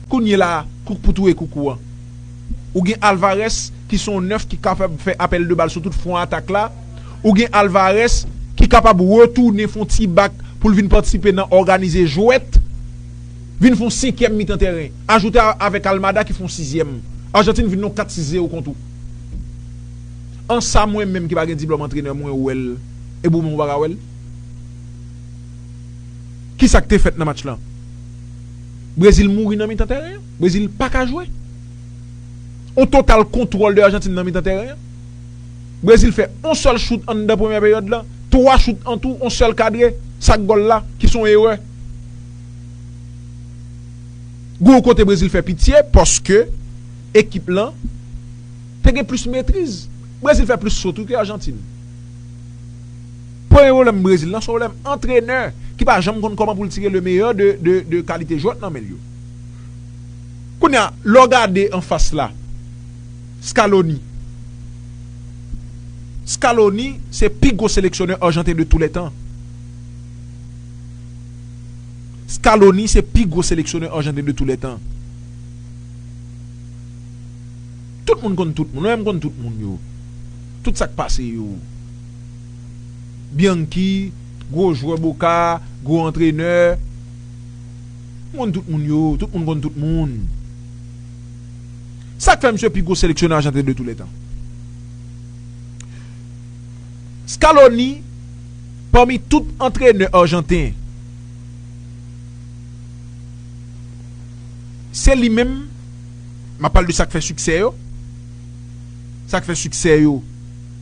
Kounyela a, kouk pou touye kouk ou an. Ou gen Alvarez ki se yon nèf ki kapab fè apèl de bal sou tout fwon atak la. Ou gen Alvarez ki kapab retounen fon ti bak pou l vin patisipe nan òganize jwèt, vin fon senkyèm mitan tèren. Ajoute avèk Almada ki fon sizyèm. Argentine vin nan yon 4 6 zero kont ou. An sa mwen menm ki pa gen diplòm antrenè mwen wè l e bou menm ou pa ka wè l? Kisa k te fèt nan match lan? Brezil mouri nan mitan tèren an. Brezil pa ka jwe. On total kontwòl de Ajantin nan mitan tèren an. Brezil fè on sèl chout anndan premyè peryòd la. Twa chout an tou, on sèl kadre. Sak gòl la, ki son erè. Gou on kote Brezil fè pitye, paske ekip lan te gen plis metriz. Brezil fè plis fot wi ke Ajantin. Premye pwoblèm Brezil lan se yon pwoblèm antrenè ki pa janm konn kòman pou l tire le meyè de kalite jwè k nan men l yo. Kounye a, lè w gade anfas la, Scaloni, Scaloni se pi gwo seleksyonè arjanten de tou lè tan. Scaloni se pi gwo seleksyonè arjanten de tou lè tan. Tout moun konn tout moun, mwen menm m konn tout moun yo, tout sa k pase yo. Bianchi, gwo jwè Boca, gwo antrenè. M konn tout moun yo, tout moun konn tout moun. Sa k fè misye pi gwo seleksyonè ajanten de toulètan? Scaloni, pami tout antrenè ajanten, se li menm, m ap pale de sa k fè siksè yo, sa k fè siksè yo.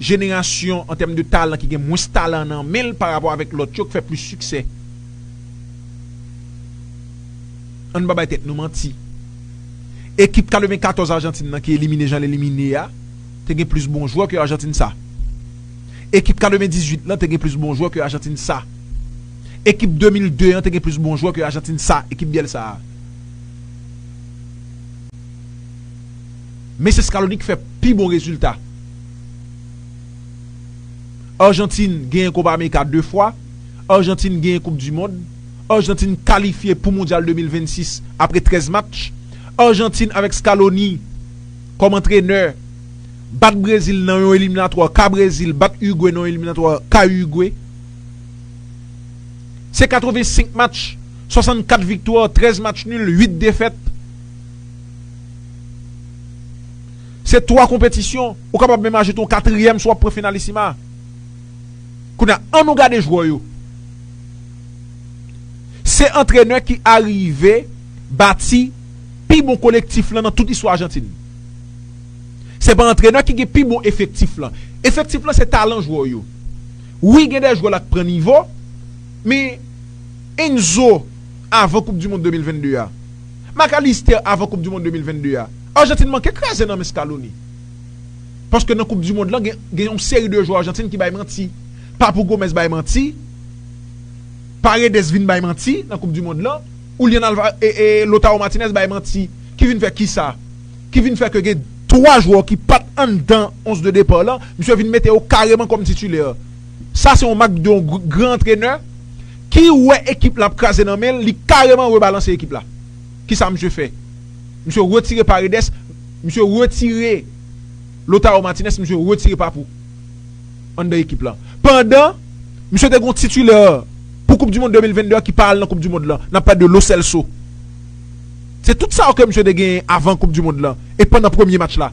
jenerasyon an tèm de talan ki gen mwens talan nan men l pa rapò avèk lòt yo k fè plis siksè. An n pa bay tèt nou manti. Ekip 94 Ajantin nan ki elimine jan l elimine a te gen plis bon jwè ke Ajantin sa. Ekip 98 lan te gen plis bon jwè ke Ajantin sa. Ekip 2002 an te gen plis bon jwè ke Ajantin sa, ekip Bielsa a. Mesye Scaloni k fè pi bon rezilta. Arjantin genyen Kopa Amerika 2 fwa, Arjantin genyen koup du mond, Arjantin kalifye pou mondyal 2026 apre 13 match, Arjantin avèk Scaloni kòm antrenè bat Brezil nan yon eliminatwa ka Brezil bat Urugwe nan yon eliminatwa ka Urugwe. Se 85 match, 64 viktwa, 13 match nul, 8 defèt. Se 3 konpetisyon, ou kapab menm ajoute yon katriyèm si w ap pran Finalissima. Kounye a, annou gade jwè yo. Se antrenè ki arive bati pi bon kolektif lan nan tout istwa Ajantin. Se pa antrenè ki gen pi bon efektif lan. Efektif lan se talan jwè yo. Wi gen de jwè la k pran nivo, men Enzo avan koupdimond 2022 a. Macalister avan koup du mond 2022 a Argentine manke kraze nan men Scaloni paske nan koup du mond lan gen yon seri de jwè Argentine ki bay manti Papou Gomez bay manti Paredes vin bay manti nan koup du mond lan Julian Alvarez e Lautaro Martinez bay manti ki vin fè kisa ki vin fè ke gen 3 jwè ki pat anndan 11 de depart lan misye vin mete yo kareman kòm titulaire Sa se yon mak de yon gran antrenè ki wè ekip la ap kraze nan men l, li kareman rebalanse ekip la. Kisa misye fè? Misye retire Paredes, misye retire Lautaro Martinez, misye retire Papou anndan ekip la. Pandan misye te gen yon titulè pou koup du mond 2022 a ki pa al nan koup du mond la, n ap pale de Lo Celso. Se tout sa yo ke misye te genyen avan koup du mond la e pandan premye match la.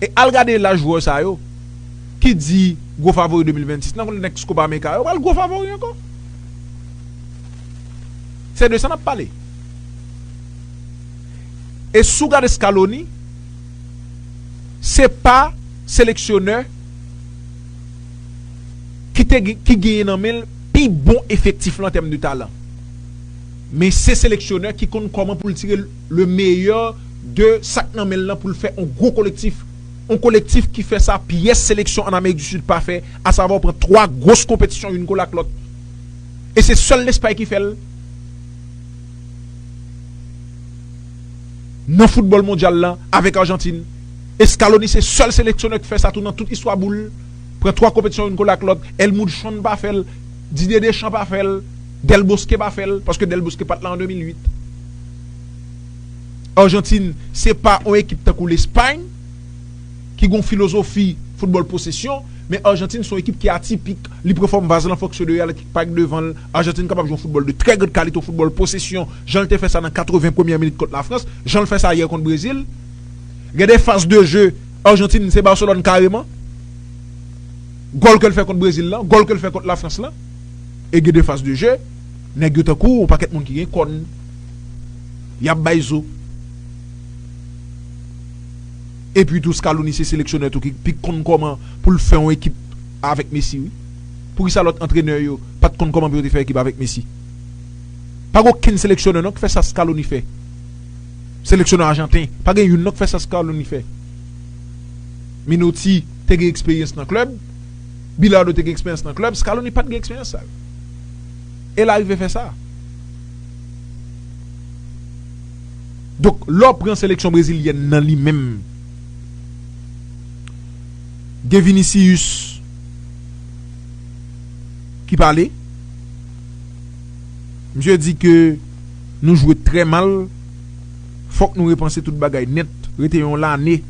E al gade laj jwè sa yo ki di gwo favori 2026 nan kontèks Copa America a, yo pral gwo favori ankò. Se de sa n ap pale. E si w gade Scaloni, se pa seleksyonè ki te ki genyen nan men l pi bon efektif lan an tèm de talan. Men se seleksyonè ki konn kòman pou l tire Le meyè de sa k nan men l lan pou l fè on gwo kolektif. On kolektif ki fè sa pyès seleksyon ann Amerik di Sid pa fè, asavè w pran twa gwos konpetisyon youn kole ak lòt. E se sèl Lespay ki fè l nan foutbòl mondyal lan avèk Arjantin. E Scaloni se sèl seleksyonè k fè sa tou nan tout istwa boul, pran twa konpetisyon youn kole ak lòt. Èl Mudsson pa fè l. Didier Deschamps pa fè l, Del Bosque pa fè l, paske Del Bosque pa t la an 2008. Argentine se pa yon ekip tankou Lespay ki gen yon filozofi foutbòl posesyon, men Argentine se yon ekip ki atipik, li pran fòm vaz lan fòk sou deyò l ak pa k devan l. Argentine kapab jwe yon foutbòl de trè grand kalite, yon foutbòl posesyon, jan l te fè sa nan 80 premyè minit kont Lafrans, jan l fè sa yè kont Brezil. Gen de faz de je Argentine se Barcelone kareman. Gòl ke l fè kont Brezil lan, gòl ke l fè kont Lafrans lan, e gen de faz de je, nèg yo tankou yon pakèt moun ki gen kòn, y ap bay zo. E pi tou Scalouni se seleksyonè tou ki pi k konn kòman pou l fè yon ekip avèk Messi wi. Pou ki sa lòt antrenè yo pa t konn kòman pou yo te fè ekip avèk Messi? Pa gen okenn seleksyonè non k fè sa Scalouni fè. Seleksyonè ajanten, pa gen youn non k fè sa Scalouni fè. Minotti. te gen eksperyans nan klèb, Bilardo te gen eksperyans nan klèb, Scaloni pa t gen eksperyans sa yo. E l arive fè sa. Donk, lè w pran seleksyon brezilyèn nan li menm, gen Vinicius ki pale. Misye di ke nou jwe trè mal, fòk nou repanse tout bagay nèt. Rete yon lane.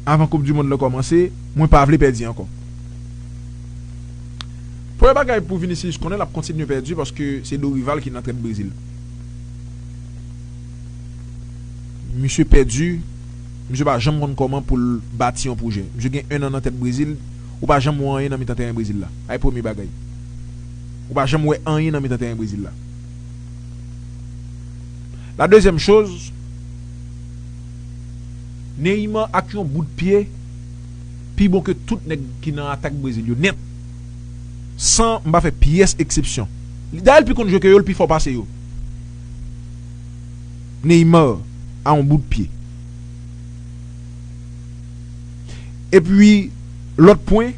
avan koup du mond lan kòmanse mwen pa vle pèdi ankò premye bagay pou Vinicius konnen lap kontinye pèdi paske se Dorival ki nan trèt Brezil misye pèdi misye pa janm konn kòman poul bati yon pwojè misye gen 1 an nan tèt Brezil ou pa janm wè anyen nan mitan tèren Brezil la ay premye bagay ou pa janm wè anyen nan mitan tèren Brezil la la dezyèm choz. Neymar ak yon bout pye pi bon ke tout nèg ki nan atak Brezil yo nèt san m pa fè pyès eksepsyon. Dayè l pi konn jwe ke yo, l pi fò pase yo. Neymar a yon bout pye. Epi lòt pwen,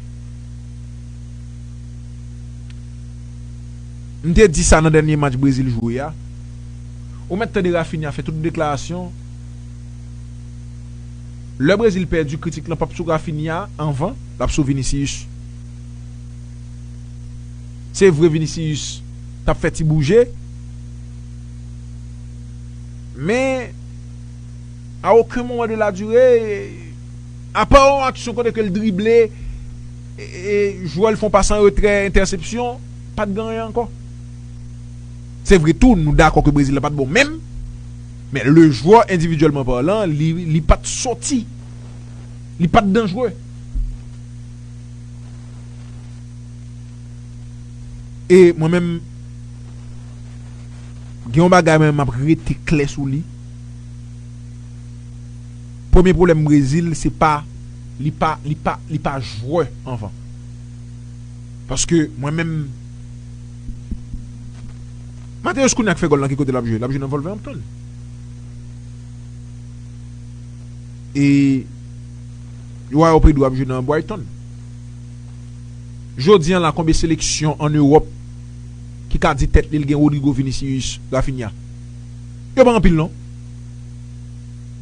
m te di sa nan dènye match Brezil jwe a, ou mèt tande Raphinha fè tout deklarasyon, Lè Brezil pèdi kritik lan pap sou Raphinha anvan lap sou Vinicius. Se vre Vinicius tap fè ti bouje men a oken moman de la dure apa yon aksyon kote ke l drible jwè l fon pas an retrè entèsepsyon pat gen anyen ankò. Se vre tou nou dakò ke Brezil la pat bon menm. Men le jwè endividyèlman palan li pat soti, li pat danjre. E mwen menm gen yon bagay mwen map rete klè sou li. Premye pwoblèm Brezil se pa li pa li pa li pa jwè anvan. Paske mwen menm. Mateus Cunha k fè gòl lan ki kote lap jwe lap jwe nan Wolverhampton e Joao Pedro ap jwe nan Brighton jodi an la konbe seleksyon an Europe ki ka di tèt li l gen Rodrygo Vinicius Raphinha yo pa anpil non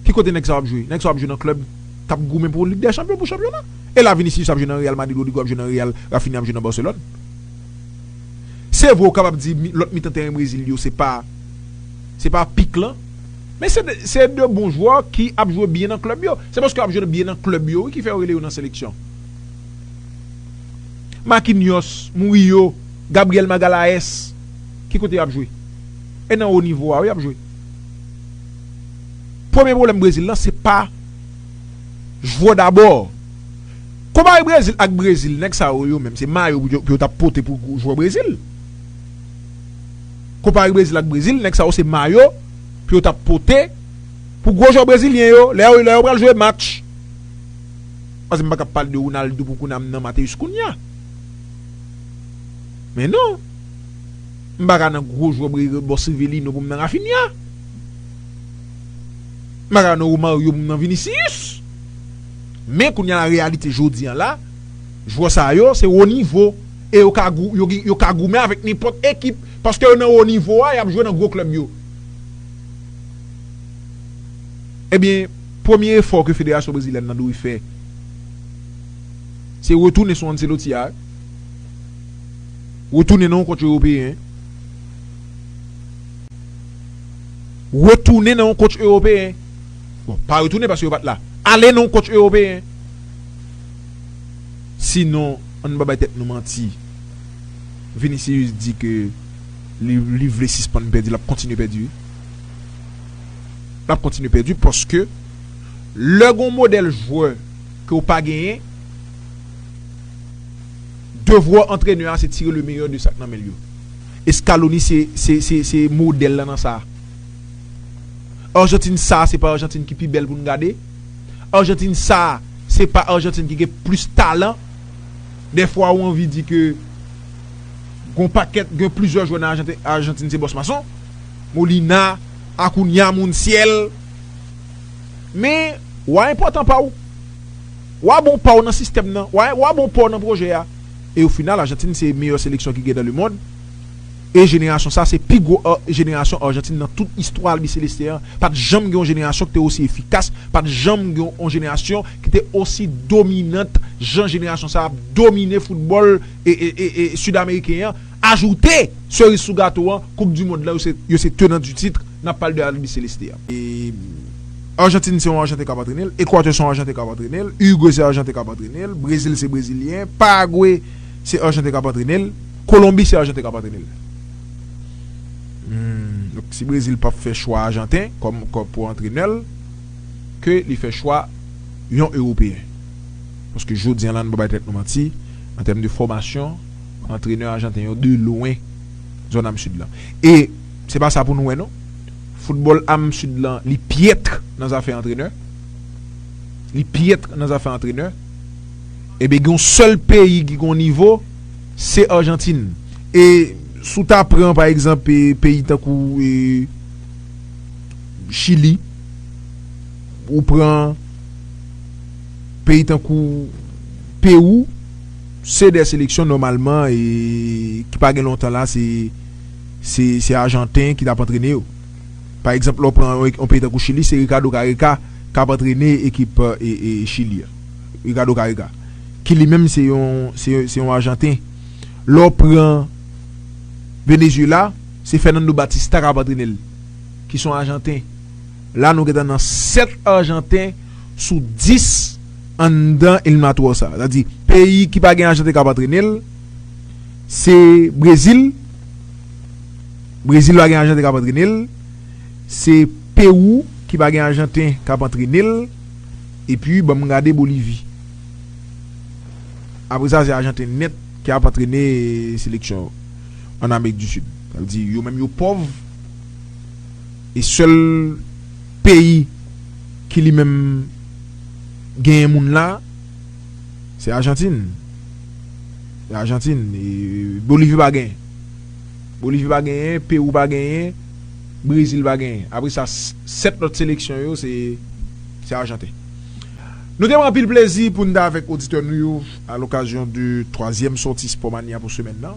ki kote nèg sa yo ap jwe nèg sa yo ap jwe nan club kap goumen pou lig dè chanpyon pou chanpyona e la Vinicius ap jwe nan Real Madrid Rodrygo ap jwe nan Real Raphinha ap jwe nan Barcelone. Se vre ou kapab di lòt mitan teren Brezil yo se pa se pa pik lan men se de se de bon jwè ki ap jwe byen nan klèb yo. Se paske yo ap jwe byen nan klèb yo wi ki fè yo rele yo nan seleksyon. Marquinhos, Murillo, Gabriel Magalhaes ki kote y ap jwe? E nan wo nivo a wi y ap jwe. Premye pwoblèm Brezil lan se pa jwè dabò Konpare Brezil ak Brezil nèg sa yo yo menm se mayo pou yo tap pote pou jwè Brezil Konpare Brezil ak Brezil nèg sa yo se mayo pou yo tap pote pou gwo jwè Brezilyen yo lè yo lè yo pral jwe match pase m paka pale de Ronaldo pou kounye a m nan Matheus Cunha men non m paka nan gwo jwè Brezil bon se Rivelino pou m nan Raphinha m paka nan Romario pou m nan Vinicius. Men kounye a reyalite jodi an la, jwè sa yo se wo nivo e yo ka goumen avèk nenpòt ekip paske yo nan wo nivo a, y ap jwe nan gwo klèb yo. Ebyen, premye efò ke federasyon brezilyèn nan dwe fè se retounen sou Ancelotti a, retounen nan yon kotch ewopeyen, retounen nan yon kotch ewopeyen. Bon, pa retounen paske yo pat la. Ale non coach Europeyen. Si non, ann pa bay tèt nou manti. Vinicius di ke li li vle sispann pèdi, lap kontinye pèdi wi. Lap kontinye pèdi paske lè gon modèl jwè ke w pa genyen, devwa antrenè a se tire le meyè de sak nan men l yo. Scaloni se se se se modèl lan nan sa. Argentine sa se pa Argentine ki pi bèl pou n gade. Argentine sa se pa Argentine ki gen plis talan. Dèfwa ou anvi di ke gon pakèt, gen plizyè jwè nan Argentine se bòs mason. Molina, Acuna, Montiel. Men, wa enpòtan pa w. Wa bon pa w nan sistèm nan. Wa bon pa w nan pwojè a. E o final Argentine se meyè seleksyon ki gen nan lemond. E jenerasyon sa se pi gwo jenerasyon Argentine nan tout istwa albiceleste an, pat janm gen yon jenerasyon ki te osi efikas, pat janm gen yon jenerasyon ki te osi dominant jan jenerasyon sa ap domine foutbòl Sud Ameriken an, ajoute seriz sou gato an koup du mond lan yo se tenant du titre, nap pale de albiceleste a. Argentine se yon Arjanten kap antrene l, Equateur se yon Arjanten kap antrene l, Uruguay se Arjanten kap antrene l, Brezil se Brezilyen, Paraguay se Arjanten kap antrene l. Kolonbi se ajanten kap antrene l. Donk si brezil pap fè chwa ajanten kòm pou antrenè l ke li fè chwa yon ewopeyen. Paske jodi an la nou pa bay tèt nou manti an tèm de fòmasyon antrenè ajanten yo de lwen zòn am sid lan. E se pa sa pou nou wè non. Foutbòl am sid lan li pyètr nan zafè antrenè. Li pyètr nan zafè antrenè. Ebyen gen yon sèl peyi ki gen yon nivo. Se Argentine. E si w ta pran pa egzanp peyi tankou Chili, ou pran peyi tankou Perou, se 2 seleksyon nòmalman ki pa gen lontan la se ajanten ki t ap antrene yo. Pa egzanp lè w pran yon peyi tankou Chili se Ricardo Careca k ap antrene ekip Chili a. Ricardo Careca. ki li menm se yon se yon ajanten. Lè w pran Venezuela, se Fernando Batista k ap antrene l, ki se yon ajanten. La nou gentan nan 7 ajanten sou 10 anndan eliminatwò sa. Sa vle di peyi ki pa gen ajanten k ap antrene l, se Brezil, Brezil pa gen ajanten k ap antrene l, se Pewou ki pa gen ajanten k ap antrene l. Epi banm gade Bolivie. Apre sa se Ajanten nèt ki ap antrene seleksyon an Amerik di Sid. Sa vle di yo menm yo pòv e sèl peyi ki li menm genyen moun la se Ajantin. Se Ajantin. Bolivie pa genyen. Bolivie pa genyen, Perou pa genyen. Brezil pa genyen. Apre sa, 7 lòt seleksyon yo se Ajanten. Nou te pran anpil plezi pou n ta avèk oditè nou yo a lokazyon de twazyèm sòti Spòmanya pou semèn nan.